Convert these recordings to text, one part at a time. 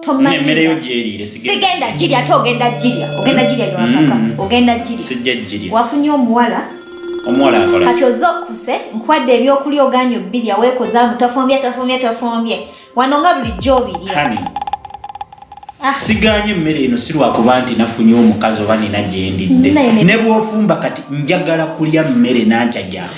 tomanyemmeleyo gyeriire sigenda girya ate ogenda girya ogenda girya newakaka mm. ogenda girya sijja girya wafunye omuwala omuwala akola kati oze okuse nkwadde ebyokulya oganyo bbirya weekozaamu tafumbye tafumbye tafumbye wano nga bulijjo obirya Ah. siganye emmere eno si lwakuba nti nafunye omukazi oba nina gyendidde ne bwofumba kati njagala kulya mmere nantya gyafa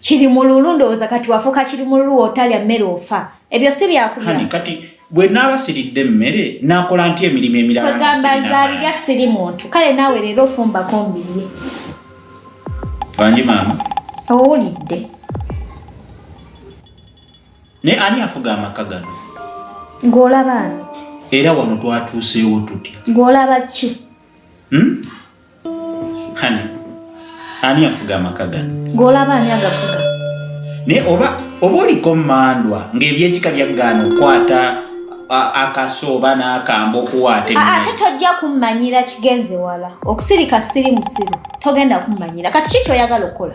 kiri mululu ndowooza kati wafuuka kiri mululu wotalya mmere ofa ebyo si byakulya kati bwe naaba siridde emmere nakola nti emirimu emiralagamba nzabirya siri muntu kale naawe leero ofumbako mbirye bangi maama owulidde naye ani afuga amaka gano ng'olaba era wano twatuuseewo tutya ng'olaba ki hmm? Hani, ani afuga amaka gano? Gw'olaba ani agafuga? Naye oba oba oliko mmandwa ng'ebyekika byaggaana okukwata akaso oba n'akambo okuwaata ate tojja kummanyira kigenze wala okusirika siri musiru togenda kummanyira kati ki kyoyagala okukola